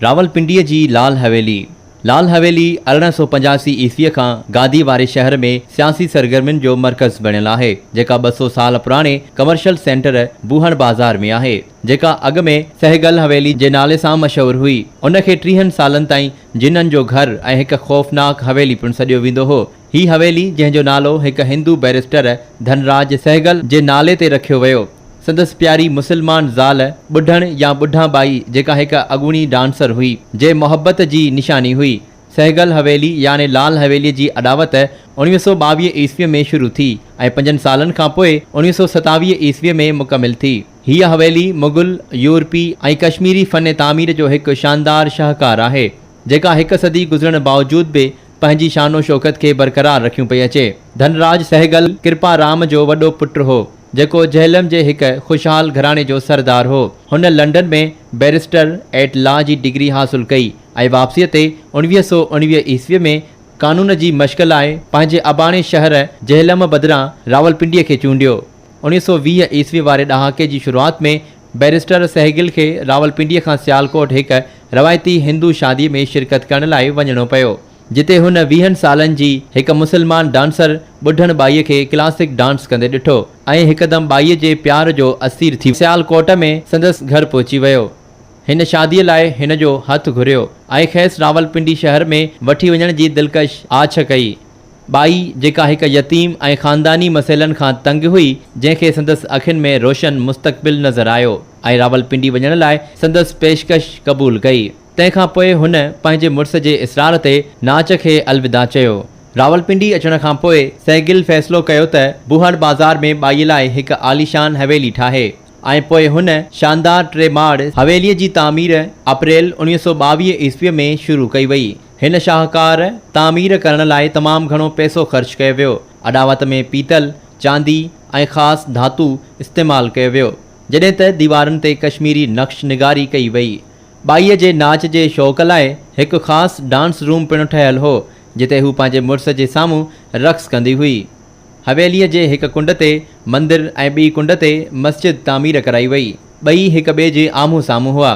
راولپنڊيء جي لال حويلي، لال حويلي ارڙهن سؤ پنجاسي عيسويء کان گادي واري شهر ۾ سياسي سرگرمين جو مرڪز بڻيل آهي، جيڪا ٻه سؤ سال پراڻي ڪمرشل سينٽر بوهڻ بازار ۾ آهي، جيڪا اڳ ۾ سهگل حويلي جي نالي سان مشهور هئي، ان کي ٽيهن سالن تائين جنن جو گهر ۽ هڪ خوفناڪ حويلي پڻ سڏيو ويندو هو. هي حويلي جنهن جو نالو هڪ هندو بئريسٽر ڌن راج سهگل جي نالي تي رکيو ويو، سندس پياري مسلمان زال ٻڍڻ يا ٻڍان ٻائي جيڪا هڪ اڳوڻي ڊانسر هئي، جي محبت جي نشاني هئي. سهگل حويلي يعني لال حويلي جي اڏاوت اوڻويهه سؤ ٻاويهه عيسوي ۾ شروع ٿي ۽ پنجن سالن کان پوء اوڻويهه سؤ ستاويهه عيسوي ۾ مڪمل ٿي. هيء حويلي مغل، يورپي ۽ ڪشميري فن تعمير جو هڪ شاندار شاهڪار آهي. جيڪا هڪ صدي گذرڻ باوجود به پنهنجي شان و شوڪت کي برقرار رکيون پئي اچي. ڌن راج سهگل ڪرپا رام جو وڏو پٽ هو، جيڪو جهلم جي هڪ خوشحال گهراڻي جو سردار هو. هن لنڊن ۾ بئريسٽر ايٽ لا جي ڊگري حاصل ڪئي ۽ واپسيء تي اوڻويهه سؤ اوڻويهه عيسويء ۾ قانون جي مشق لاء پنهنجي اباڻي شهر جهلم بدران راولپنڊيء کي چونڊيو. اوڻيهه سؤ ويهه عيسوي واري ڏهاڪي جي شروعات ۾ بئريسٽر سهگل کي راولپنڊيء کان سيالڪوٽ هڪ روايتي هندو شاديء ۾ شرڪت ڪرڻ لاء وڃڻو پيو، جتي هن ويهن سالن جي هڪ مسلمان ڊانسر ٻڍڻ ٻائيء کي ڪلاسڪ ڊانس ڪندي ڏٺو ۽ هڪدم ٻائيء جي پيار جو اسير ٿي سيالڪوٽ ۾ سندس گهر پهچي ويو. هن شاديء لاء هن جو هٿ گهريو ۽ کيس راولپنڊي شهر ۾ وٺي وڃڻ جي دلڪش آڇ ڪئي. ٻائي، جيڪا هڪ يتيم ۽ خانداني مسئلن کان تنگ هئي، جنهن کي سندس اکين ۾ روشن مستقبل نظر آيو ۽ راولپنڊي وڃڻ لاء سندس پيشڪش قبول ڪئي. تنهن کان پوء هن پنهنجي مڙس جي اصرار تي ناچ کي الوداع چيو. راولپنڊي اچڻ کان پوء سهگل فيصلو ڪيو ته بوهڙ بازار ۾ ٻائي لاء هڪ عاليشان حويلي ٺاهي ۽ پوء هن شاندار ٽي ماڙ حويليء جي تعمير اپريل اوڻيهه سؤ ٻاويهه عيسويء ۾ شروع ڪئي وئي. هن شاهڪار تعمير ڪرڻ لاء تمام گهڻو پئسو خرچ ڪيو ويو. اڏاوت ۾ پيتل، چاندي ۽ خاص ڌاتو استعمال ڪيو ويو، جڏهن ته ديوارن تي ڪشميري نقش نگاري ڪئي وئي. ٻائيء جي ناچ جي شوق لاء هڪ خاص ڊانس روم پڻ ٺهيل هو، جتي هو پنهنجي مڙس جي سامهون رقص ڪندي هئي. حويليء جي هڪ ڪنڊ تي مندر ۽ ٻي ڪنڊ تي مسجد تعمير ڪرائي وئي. ٻئي هڪ ٻئي جي آمهون سامهون هئا.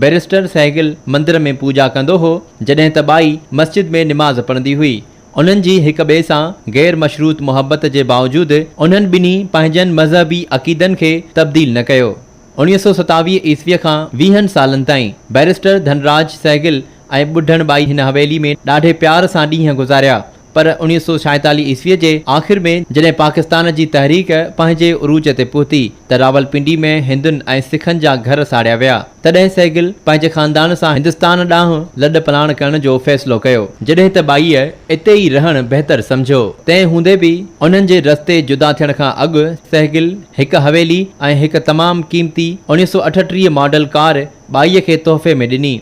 بئريسٽر سهگل مندر ۾ پوڄا ڪندو هو، جڏهن ته ٻائي مسجد ۾ نماز پڙهندي هئي. انهن جي هڪ ٻئي سان غير مشروط محبت جي باوجود انهن ٻنهي پنهنجن مذهبي عقيدن کي تبديل نه ڪيو. اوڻيهه سؤ ستاويهه عيسويء کان ويهن سالن تائين بئريسٽر ڌنراج سهگل ۽ ٻڍڻ ٻائي هن حويلي ۾ ڏاڍي پيار سان ڏينهن گذاريا. پر اوڻيهه سؤ ڇائيتاليهه عيسويء جي آخر ۾ جڏهن پاڪستان جي تحريڪ پنهنجي عروج تي پهتي ته راولپنڊي ۾ هندن ۽ سکن جا گهر ساڙيا ويا. تڏهن سهگل پنهنجي خاندان سان هندستان ڏانهن لڏ پلاڻ ڪرڻ جو فيصلو ڪيو. جڏهن ته ٻائيء اتي ئي رهڻ بهتر سمجهيو. تنهن هوندي به انهن جي رستي جدا ٿيڻ کان اڳ سهگل هڪ حويلي ۽ هڪ تمام قيمتي اوڻيهه سؤ اٺٽيهه ماڊل ڪار ٻائيء کي تحفي ۾ ڏني.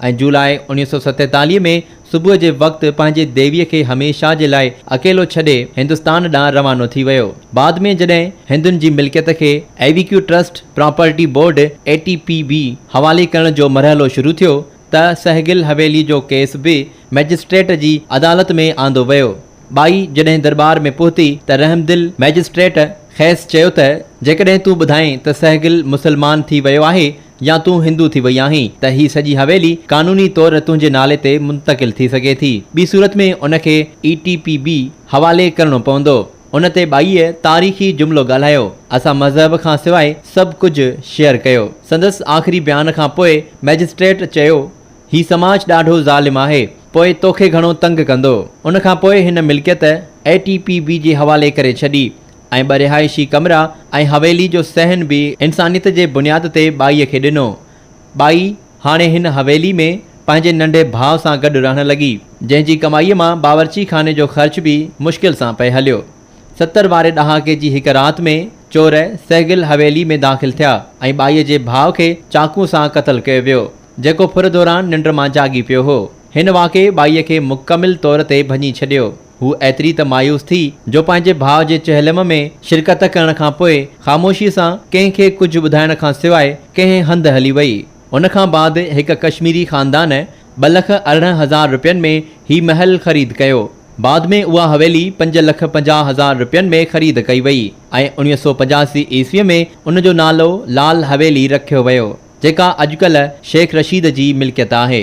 ۽ جولاء اوڻيهه سؤ ستيتاليهه ۾ صبح جي وقت پنهنجي ديويء کي هميشه جي لاء اڪيلو ڇڏي هندستان ڏانهن روانو ٿي ويو. بعد ۾ جڏهن هندن جي ملڪيت کي evacuee trust property board, ATPB، حوالي ڪرڻ جو مرحلو شروع ٿيو ته سهگل حويلي جو ڪيس به مئجسٽريٽ جي عدالت ۾ آندو ويو. ٻائي جڏهن درٻار ۾ پهتي ته رحمدل مئجسٽريٽ کيس چيو ته جيڪڏهن تون ٻڌائين ته سهگل مسلمان ٿي ويو آهي يا تون هندو ٿي وئي آهين ته هي سڄي حويلي قانوني طور تنهنجي نالي تي منتقل ٿي سگهي ٿي. ٻي صورت ۾ ان کي اي ٽي پي بي حوالي ڪرڻو پوندو. ان تي ٻائيء تاريخي جملو ڳالهايو، اسان مذهب کان سواء سڀ ڪجهه شيئر ڪيو. سندس آخري بيان کان پوء مئجسٽريٽ چيو، هي سماج ڏاڍو ظالم آهي، پوء توکي گهڻو تنگ ڪندو. ان کان پوء هن ملڪيت اي ٽي پي بي جي حوالي ڪري ڇڏي. ۽ ٻه رهائشي ڪمرا ۽ حويلي جو صحن به انسانيت جي بنياد تي ٻائيء کي ڏنو. ٻائي هاڻي هن حويلي ۾ پنهنجي ننڍي ڀاء سان گڏ رهڻ لڳي، جنهن جي ڪمائيء مان باورچي خاني جو خرچ به مشڪل سان پئي هليو. ستر واري ڏهاڪي جي هڪ رات ۾ چور سهگل حويلي ۾ داخل ٿيا ۽ ٻائيء جي ڀاء کي چاقو سان قتل ڪيو ويو، جيڪو ڦر دوران ننڊ مان جاڳي پيو هو. هن واقعي ٻائيء کي مڪمل طور تي ڀڃي ڇڏيو. هوء ايتري ته مايوس ٿي جو پنهنجي ڀاء جي چهلم ۾ شرڪت ڪرڻ کان پوء خاموشيء سان ڪنهن کي ڪجهه ٻڌائڻ کان سواء ڪنهن هنڌ هلي ويئي. ان کان بعد هڪ ڪشميري خاندان ٻه لک ارڙهن هزار رپين ۾ هي محل خريد ڪيو. بعد ۾ اها حويلي پنج لک پنجاهه هزار رپين ۾ خريد ڪئي ويئي ۽ اوڻيهه سؤ پنجاسي عيسويء ۾ ان جو نالو لال حويلي رکيو ويو، جيڪا اڄڪلهه شيخ رشيد جي ملڪيت آهي.